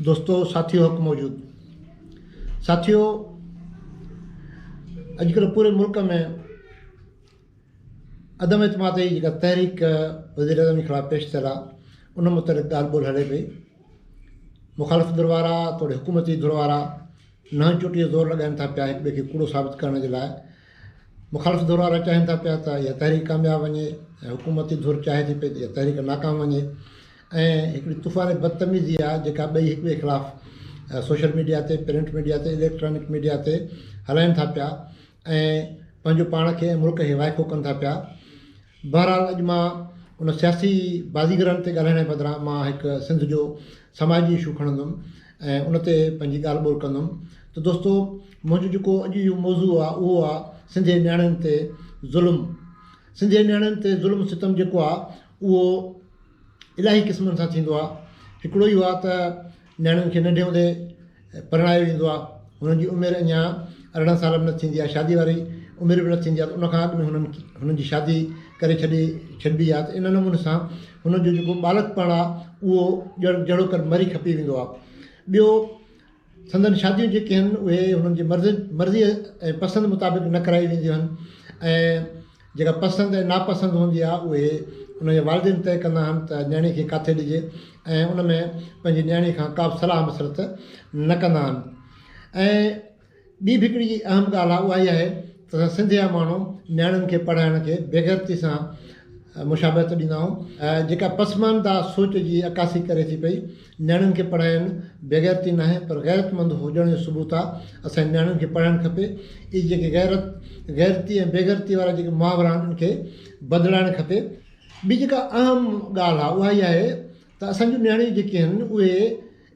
دوستو ساٿيو حق موجود ساٿيو اڄڪلهه پوري ملڪ ۾ عدم اعتماد جي جيڪا تحريڪ وزير اعظم جي خلاف پيش ٿيل آهي ان متعلق ڳالهه ٻولهه هلي پئي مخالف ڌر وارا توڙي حڪومتي ڌر وارا نهن چوٽي جو زور لڳائن ٿا پيا هڪ ٻئي کي ڪوڙو ثابت ڪرڻ جي لاء مخالف ڌر وارا چاهين ٿا پيا ته اها تحريڪ ڪامياب وڃي حڪومتي ڌر چاهي ٿي پئي ته اها تحريڪ ناڪام وڃي ۽ هڪڙي طوفاني بدتميزي آهي جيڪا ٻئي هڪٻئي خلاف سوشل ميڊيا تي پرنٽ ميڊيا تي اليڪٽرانڪ ميڊيا تي هلائين ٿا پيا ۽ پنهنجو پاڻ کي ۽ ملڪ کي وائکو ڪن ٿا پيا بهرحال اڄ مان ان سياسي بازيگرن تي ڳالهائڻ جي بدران مان هڪ سنڌ جو سماجي اشو کڻندم ۽ ان تي پنهنجي ڳالهه ٻولهه ڪندم ته دوستو منهنجو جيڪو اڄ اهو موضوع آهي اهو آهي سنڌي نياڻين تي ظلم سنڌي نياڻين تي ظلم ستم جيڪو آهي اهو الاهي قسمن سان ٿيندو آهي هڪڙو اهو آهي ته نياڻين کي ننڍي هوندي پرڻايو ويندو آهي هنن جي عمر اڃا ارڙهن سال به نه ٿيندي آهي شادي واري عمر به نه ٿيندي آهي ته ان کان اڳ ۾ هنن هنن جي شادي ڪري ڇڏي ڇڏبي آهي ته ان نموني سان هنن جو جيڪو ٻالڪ پڻ آهي اهو ڄڻ جهڙوڪر مري کپي ويندو آهي ٻيو سندن شاديون جيڪي هن اهي هنن جي مرضي ۽ پسند مطابق نه ڪرائي وينديون هن ۽ جيڪا پسند ۽ ناپسند هوندي آهي اهي هن جا والدين طئي ڪندا هن ته نياڻي کي ڪاٿي ڏجي ۽ ان ۾ پنهنجي نياڻي کان ڪابه صلاح مشورت نه ڪندا هن ۽ ٻي به هڪڙي اهم ڳالهه آهي اها هي آهي ته اسان سنڌ جا ماڻهو نياڻين کي پڙهائڻ کي بيغيرتي سان مشابهت ڏيندا آهيون جيڪا پسمانده سوچ جي عڪاسي ڪري ٿي پئي نياڻين کي پڙهائڻ بيغيرتي ناهي پر غيرتمند هجڻ جو ثبوت آهي اسان جي نياڻين کي پڙهائڻ کپي اي جيڪي غيرت غيرتي ۽ بيغيرتي وارا جيڪي محاورا آهن ان کي بدلائڻ کپي ٻي جيڪا اهم ڳالهه آهي اها هي آهي ته اسان جون نياڻيون جيڪي آهن اهي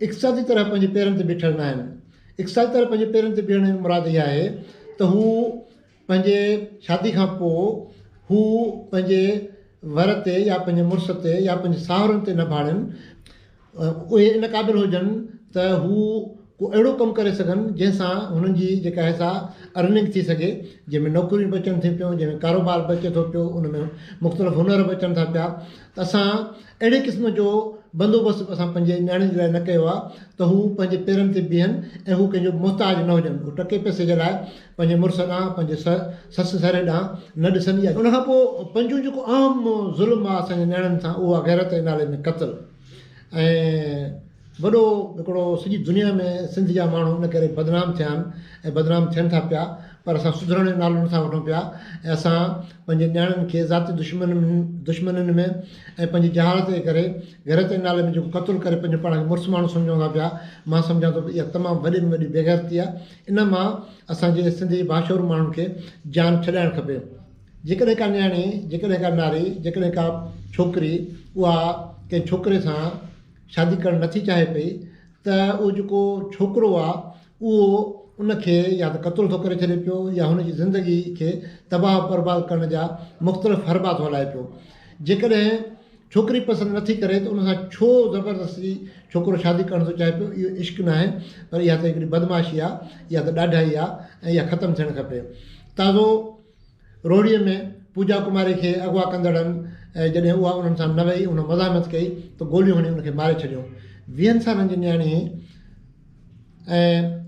اقتصادي طرح پنهنجي پيرن تي بيٺل نه آهن. اقتصادي طرح پنهنجي پيرن تي بيهڻ جي مراد اها آهي ته هو پنهنجي شادي کان پوء هو پنهنجي ور تي يا پنهنجي مڙس تي يا پنهنجي ساهرن تي نه ڀاڙين اهي ان قابل هجن ته هو ڪو اهڙو ڪم ڪري سگهن جنهن سان هنن جي جيڪا آهي سا ارننگ ٿي سگهي جنهن ۾ نوڪريون به اچن ٿيون پيون جنهن ۾ ڪاروبار به اچي ٿو پيو ان ۾ مختلف هنر به اچن ٿا پيا ته اسان اهڙي قسم جو بندوبست اسان پنهنجي نياڻين جي لاء نه ڪيو آهي ته هو پنهنجي پيرن تي بيهن ۽ هو ڪنهن جو محتاج نه هجن، هو ٽڪي پئسي جي لاء پنهنجي مڙس ڏانهن، پنهنجي سس سهري ڏانهن نه ڏسن يا. ان کان پوء پنجون جيڪو اهم ظلم آهي اسان جي نياڻين سان اهو آهي غيرت جي نالي ۾ قتل ۽. وڏو ھڪڙو سڄي دنيا ۾ سنڌ جا ماڻھو ان ڪري بدنام ٿيا آھن ۽ بدنام ٿين ٿا پيا پر اسان سڌرڻ جو نالو نٿا وٺون پيا ۽ اسان پنھنجي نياڻين کي ذاتي دشمن دشمنين ۾ ۽ پنھنجي جھالت جي ڪري غيرت جي نالي ۾ جيڪو قتل ڪري پنھنجو پاڻ کي مڙس ماڻھو سمجھون ٿا پيا مان سمجھان ٿو اھا تمام وڏي ۾ وڏي بيغيرتي آھي ان مان اسان جي سنڌ جي باشعور ماڻھن کي جان ڇڏائڻ کپي جيڪڏھن ڪا نياڻي جيڪڏھن ڪا ناري جيڪڏھن ڪا ڇوڪري اھا ڪنھن ڇوڪري سان شادي ڪرڻ نٿي چاهي پئي ته اهو جيڪو ڇوڪرو آهي اهو ان کي يا ته قتل ٿو ڪري ڇڏي پيو يا هن جي زندگي کي تباهه برباد ڪرڻ جا مختلف حربا ٿو هلائي پيو جيڪڏهن ڇوڪري پسند نٿي ڪري ته ان سان ڇو زبردستي ڇوڪرو شادي ڪرڻ ٿو چاهي پيو اهو عشق ناهي پر اها ته هڪڙي بدمعاشي آهي اها ته ڏاڍائي آهي ۽ اها ختم ٿيڻ کپي تازو روهڙيء ۾ پوجا ڪماري کي اغوا ڪندڙن جڏهن اها انهن سان نه ويئي ان مزاحمت ڪئي ته گوليون هڻي ان کي ماري ڇڏيو. ويهن سالن جي نياڻي هئي ۽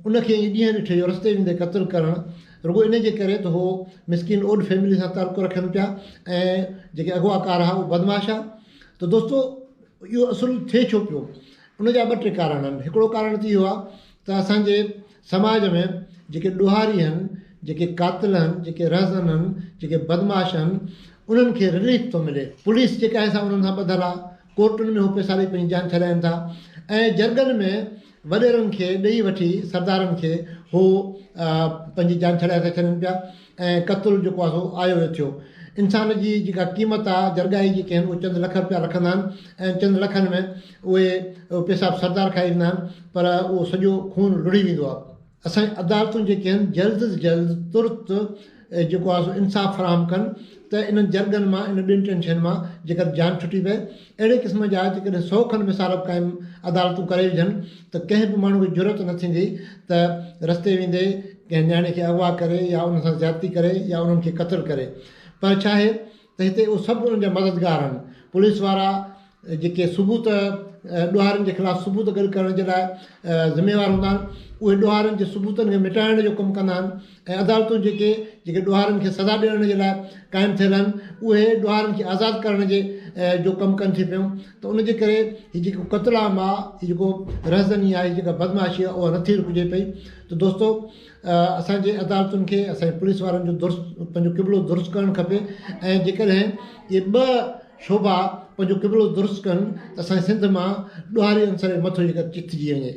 ان کي ائين ڏينهن ڏٺي جو رستي ويندي قتل ڪرڻ رڳو ان جي ڪري ته هو مسڪين اوڏ فيملي سان تعلقو رکن پيا ۽ جيڪي اغوا ڪار ها اهي بدمعاش ها ته دوستو اهو اصل ٿئي ڇو پيو ان جا ٻه ٽي ڪارڻ آهن هڪڙو ڪارڻ ته اهو آهي ته اسان جي سماج ۾ جيڪي ڏوهاري هن، جيڪي قاتل هن، جيڪي رهزن هن، جيڪي بدمعاش هن، انهن کي رليف ٿو ملي. پوليس جيڪا هي سا انهن سان ٻڌل آ. ڪورٽن ۾ هو پيساري پنهنجي جان ڇڏائين ٿا ۽ جرڳن ۾ وڏيرن کي ڏيئي وٺي سردارن کي هو پنهنجي جان ڇڏائي ٿا ڇڏين پيا. ۽ قتل جيڪو آهي سو آيو ويو ٿيو. انسان جي جيڪا قيمت آهي جرڳائي جيڪي آهن اهي چند لک رپيا رکندا آهن ۽ چند لکن ۾ اهي پيسا به سردار کائي ويندا آهن پر اهو سڄو خون لڙهي ويندو آهي. اسان جي عدالتون جيڪي آهن جلد از جلد ترت جيڪو آهي سو انصاف فراهم ڪن ته انهن جرڳن مان انهن ٻين ٽن شين مان جيڪر جان ڇٽي پئي اهڙي قسم جا جيڪڏهن سؤ کن مصارف قائم عدالتون ڪري وجهن ته ڪنهن به ماڻهو کي جرئت نه ٿيندي ته رستي ويندي ڪنهن نياڻي کي اغوا ڪري يا ان سان زيادتي ڪري يا انهن کي قتل ڪري پر ڇا آهي ته هتي اهي سڀ انهن جا مددگار آهن پوليس وارا جيڪي ثبوت ڏوهارين جي خلاف ثبوت گڏ ڪرڻ جي لاء ذميوار هوندا آهن اهي ڏوهارين جي ثبوتن کي مٽائڻ جو ڪم ڪندا آهن ۽ عدالتون جيڪي جيڪي ڏوهارين کي سزا ڏيڻ جي لاء قائم ٿيل آهن اهي ڏوهارين کي آزاد ڪرڻ جي جو ڪم ڪن ٿي پيون ته ان جي ڪري هي جيڪو قتل عام آهي هي جيڪو رهزني آهي جيڪا بدمعاشي آهي اها نٿي رڪجي پئي ته دوستو اسانجي عدالتن کي اسانجي پوليس وارن جو درست پنهنجو قبلو درست ڪرڻ کپي ۽ جيڪڏهن اهي ٻه شعبا پنهنجو قبلو درست ڪن ته اسانجي سنڌ مان ڏوهاري عنصر جي مٿو جيڪا چٿجي وڃي